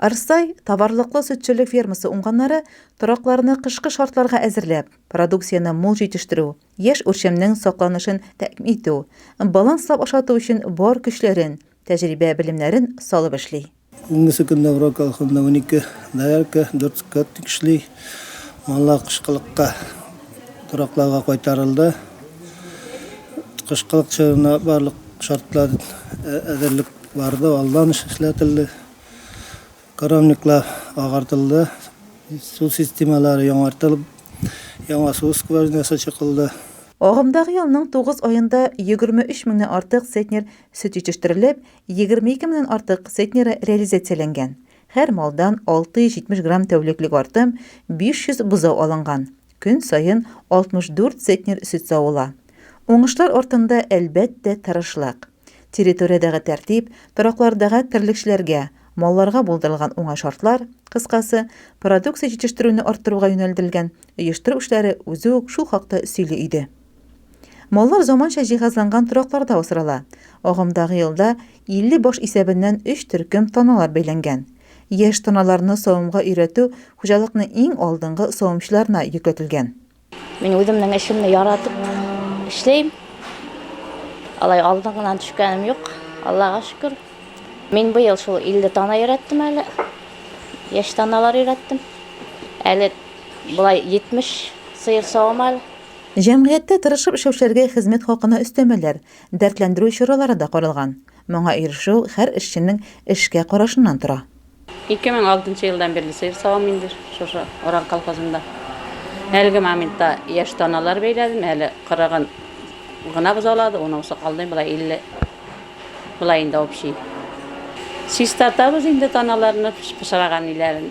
Арсай товарлыклы сөтчелек фермасы уңганнары торакларны кышкы шартларга әзерләп, продукцияне мул җитештерү, яшь үрчемнең сакланышын тәэмин итү, баланслап ашату өчен бар көчләрен, тәҗрибә-белемнәрен салып эшли. Бүгенгесе көндә Урал колхозында унике доярка, дүрт скотник эшли. Маллар кышкылыкка торакларга кайтарылды. Кышкылык чорына барлык шартлар әзерлек барды, алдан эшләтелде. Коровниклар агартылды, су системалары яңартылып, яңа су скважинасы чыкылды. Агымдагы елның тугыз аенда 23 меңнән артык центнер сөт җитештерелеп, 22 меңнән артык центнеры реализацияләнгән. Һәр малдан 670 грамм тәүлеклек артым, 500 бозау алынган. Көн саен 64 центнер сөт савыла. Уңышлар артында, әлбәттә, тырышлык. Территориядәге тәртип, тораклардагы терлекчеләргә, малларга булдырылган уңай шартлар, кыскасы, продукция җитештерүне арттыруга юнәлдерелгән оештыру эшләре үзе үк шул хакта сөйли иде. Маллар заманча җиһазланган торакларда асрала. Агымдагы елда 50 баш исәбеннән өч төркем таналар бәйләнгән. Яшь таналарны савымга өйрәтү хуҗалыкның иң алдынгы савымчыларына йөкләтелгән. Мин үземнең эшемне яратып эшләйм. Алай алдын гына төшкәнем юк. Аллага шөкер. Мин быел шул 50 тана өйрәттем әле. Яшь таналар өйрәттем. Әле болай 70 сыер савам әле. Җәмгыятьтә тырышып эшләүчеләргә хезмәт хакына өстәмәләр, дәртләндерү чаралары да каралган. Моңа ирешү һәр эшченең эшкә карашыннан тора. 2006 елдан бирле сыер савам инде шушы Оран колхозында. Әлеге моментта яшь таналар бәйләдем, әле 40-ын гына бозаулады, унысы калды, болай 50. Болай инде общий. Чистартабыз инде таналарны, пычраган ниләрен.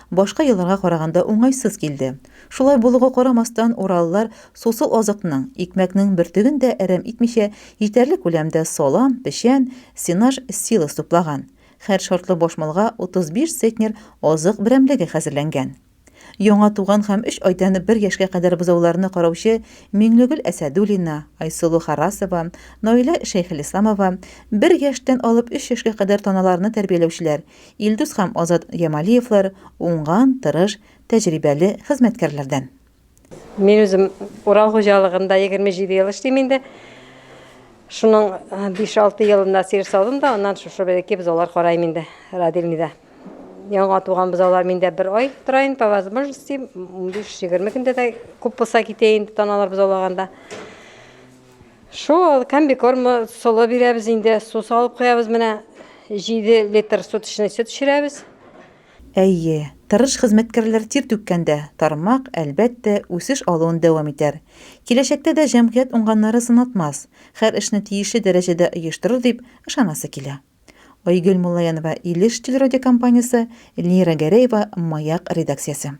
башка елларга караганда уңайсыз килде. Шулай булуга карамастан, уралылар сусыл азыкның, икмәкнең бөртеген дә әрәм итмичә, җитәрлек күләмдә салам, печән, сенаж, силос туплаган. Һәр шартлы баш малга 35 центнер азык берәмлеге хәзерләнгән. Яңа туган һәм өч айдан бер яшькә кадәр бозауларны караучы Миңлегөл Әсәдуллина, Айсылу Харасова, Наилә Шәйхелисламова, бер яшьтән алып өч яшькә кадәр таналарны тәрбияләүчеләр, Илдус һәм Азат Ямалиевлар, уңган, тырыш, тәҗрибәле хезмәткәрләрдән. Мин үзем Урал хуҗалыгында егерме җиде ел эшлим инде. Шуның биш-алты елында сыер саудым да, аннан шушы бәләкәй бозаулар карайм инде родильныйда. Яңа туган бозаулар миндә бер ай тора инде, по возможности, унбиш-егерме көндә дә күп булса китә инде таналар бозаулаганда. Шул комбикорм солы бирәбез инде, су салып куябыз менә 7 литр суточный сөт эчерәбез. Әйе, тырыш хезмәткәрләр тир түккәндә, тармак, әлбәттә, үсеш алуын дәвам итәр. Киләчәктә дә җәмгыять уңганнары сынатмас, хәр эшне тиешле дәрәҗәдә оештырыр дип ышанасы килә. Айгөл Муллаянова, Илеш телерадиокомпаниясе, Лира Гәрәева, Маяк редакциясе.